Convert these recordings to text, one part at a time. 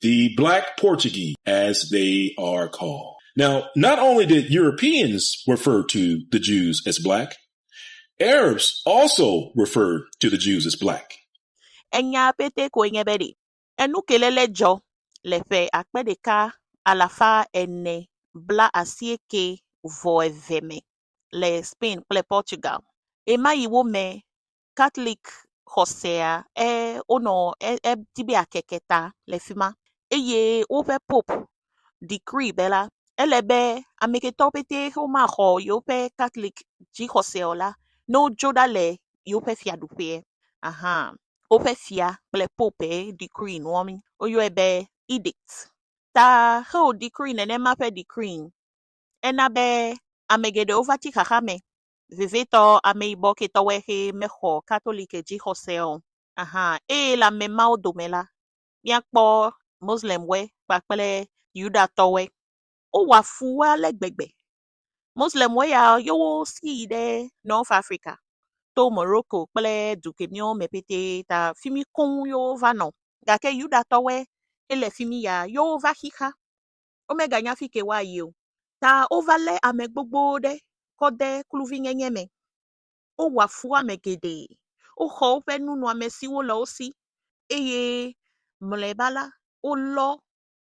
the Black Portuguese, as they are called. Now, not only did Europeans refer to the Jews as black, Arabs also referred to the Jews as black. Enya pete koe nye be ɖe enukelele dzɔ le ƒe akpe ɖeka alafa ene bla asieke vɔ eve me le Spain kple Portugal ɣemaɣiwo me Katlik xɔsea e wonɔ e edi be yeakeke ta le fi ma eye woƒe popu decree be la ele be Amerikatɔwo pɛtɛ xe womaxɔ yewoƒe Katlik dzixɔse o la ne wodzo ɖa le yewoƒe fiaɖuƒea aha woƒe fia kple popu ye decree nua mi woyɔe be edict ta xe wò decree nenema ƒe decree ena be ame geɖewo va tsi xaxa me Vevitɔ, ameyibɔ ketɔwo xe mexɔ Katoliki dzixɔse o. Ahan, eye le ame mawo dome la, míakpɔ Moslemwo kpakple Yudatɔwo. Wowɔa fu wo ale gbegbe. Moslemwo ya, yewo si yi ɖe North Africa to Morocco kple du kemiwo me petɛ ta fi mi koŋ yewo va nɔ. Gake Yudatɔwo, ele fi mi ya, yewo va xixa. womeganya afi ke woayi o ta wova lé ame gbogbo ɖe kɔ de kluvinyenye me. Wowɔa fu ame geɖe. Woxɔ woƒe nunɔamesiwo le wo si eye mlɔeba la, wolɔ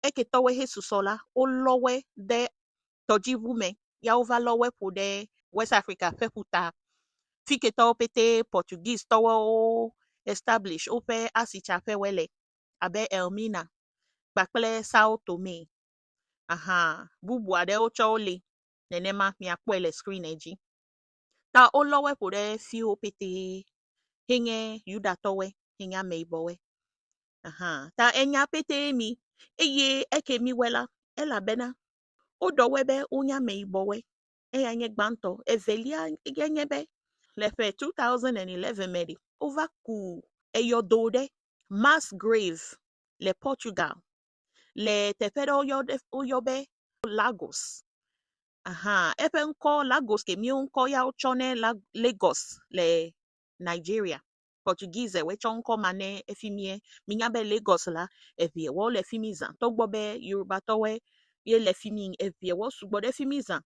eketɔwo hesusɔ la, wolɔ woe de tɔdziŋu me ya wova lɔ woe ƒo ɖe West Africa ƒe ƒuta. Fi ketɔwo petɛ Portuguese tɔwoe establish woƒe asitsaƒewoe le. abe Elmina kpakple Sao Tome. Aha bubu aɖewo tsɛ wole nenema miakpɔe le screen dzi. Ta wolɔ wo ƒo ɖe fiwo petee yi nye Yudatɔwoe yi nye ameyibɔwoe. Aha ta enya petee mi eye eke miwɔe la elabena woɖɔ woe be wonye ameyibɔwoe. Eya nye gbãtɔ. Evelia ye nye be le ƒe two thousand and eleven me ɖe wova ku eyɔdo ɖe Mass Grave le Portugal, le teƒe ɖe woyɔ ɖe woyɔ be Lagos. Ahan eƒe ŋkɔ Lagos ke miwo ŋkɔ ya wotsɔ nɛ la Lagos le Nigeria. Portugisewɔe tsɔ ŋkɔ ma ne efi mie. Minya be Lagos la eŋewo le fi mi zã togbɔ be Yorubatɔwoe ye le fi mi eŋewo sugbɔ ɖe fi mi zã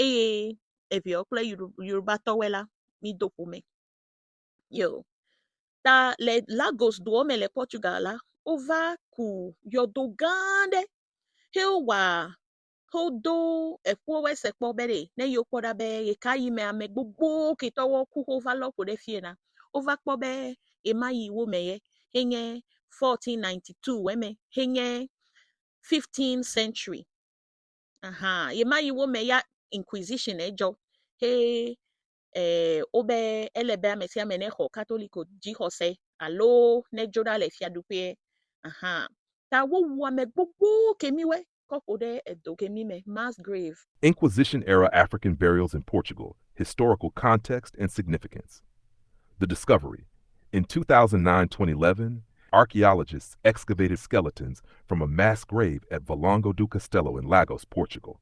eye eŋewo kple Yoru Yorubatɔwoe la mido ƒome. Yo. Ta le Lagos doɔ me le Portugal la, wova ku yɔdo gã aɖe he wowa he wodo eƒuwo se kpɔ be ɖe ne yewo kpɔ ɖa be ɣeka yi me ame gbogbo ketɔwo ku he wova lɔ ƒo ɖe fie na. Wova kpɔ be ɣema yi wo me ye he nye fourteen ninety two wɔ me he nye fifteen century. Ahan ɣema yi wo me ya inquisition edzɔ he eh, wobe ele be ame sia ame nexɔ Katoliko dzixɔse alo nedzo ɖa le fiaɖuƒee. Aha. Ta wowu ame gbogbo kemiwe kɔ ƒo ɖe edo kemi me, mass grave. Inquisition Era African Burials in Portugal, Historical Context and Significance The Discovery In 2009, 2011, archaeologists excavated skeletons from a mass grave at Valongo do Castelo in Lagos, Portugal.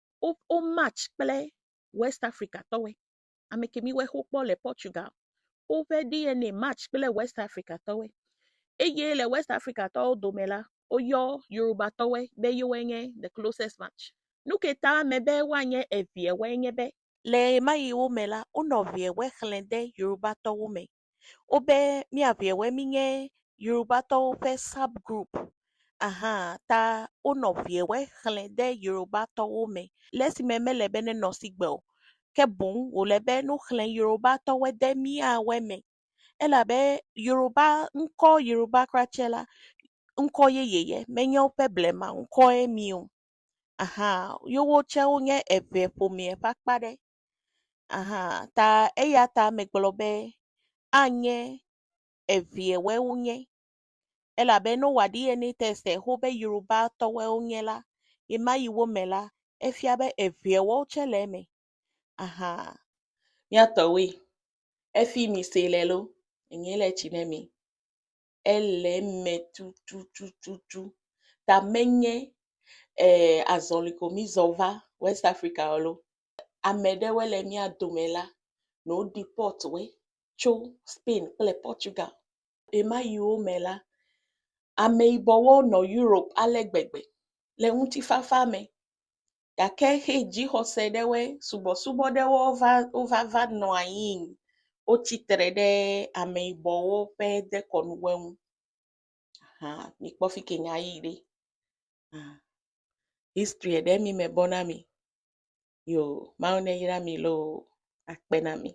wo match kple West Africa tɔwoe, ame ke mi woe xe wokpɔ le Portugal, woƒe DNA match kple West Africa tɔwoe eye le West Africa tɔwo dome la, woyɔ Yoruba tɔwoe be yewoe nye the closest match. Nu ke ta me be woanye eveawoe nye be. Le ɣemaɣiwo me la, wonɔ eveawoe xlẽ de Yoruba tɔwo me Wobe míaŋɛwe mínye Yorubatɔwo ƒe sub group ahan ta wonɔ ŋɛwe xlẽ de Yorubatɔwo me le esime mele be nenɔ sigbe o ke boŋ wòle be nuxlẽ Yorubatɔwo de míawoe me elabe Yoruba ŋkɔ Yoruba kura tsɛ la ŋkɔ yeye ye menye woƒe blema ŋkɔe mi o ahan yewo tsɛ wonye eŋɛ ƒomea ƒe akpa aɖe. Aha ta eya ta megblɔ be anye eviɛwoe wonye elabe ne wowa DNA tɛst xoxo be Yorubatɔwoe wonye la, ɣema ɣi wo me la, efia be eviɛwo tsɛ le eme. Aha. Mía tɔwoe. Efi mi se le lo, enye le tsi ne mi. ele eme tutututu ta menye ee azɔli ko mizɔ va West Africa alo ame ɖewoe le mía dome la nɔ deport wo tso Spain kple Portugal. Ɣemaɣiwo me la, ameyibɔwo nɔ Europe ale gbegbe le ŋutifafa me. gake xe dzixɔse ɖewoe, subɔsubɔ ɖewo va wova va nɔ anyi, wotsi tre ɖe ameyibɔwo ƒe dekɔnuwo ŋu ahan mikpɔ fi ke nyaa yi ɖe ahan history ɖe mi mebɔ na mi yoo mawu neyra mi loo akpe na mi.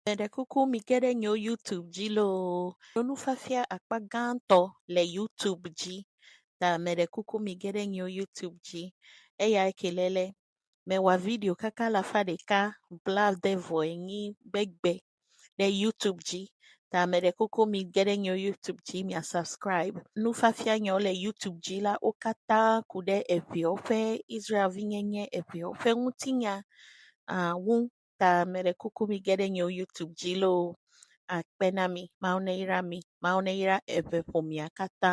Meɖe kuku mige ɖe nyewo YouTube dzi loo alo nufiafia akpa gãtɔ le YouTube dzi ta meɖe kuku mige ɖe nyewo YouTube dzi. Eya ke le le mewɔ video kaka alafa ɖeka blaade vɔ enyi gbegbe ɖe YouTube dzi ta meɖe kuku mige ɖe nyewo YouTube dzi mia subscribe. Nufiafia nyewo le YouTube dzi la wo katã ku ɖe eŋewo ƒe Israel vinyenye eŋewo ƒe ŋutinya ah ŋu. Ta meɖe kuku mige ɖe nye YouTube dzi loo akpe na mi. Mawu neyra mi. Mawu neyra eve ƒomea katã.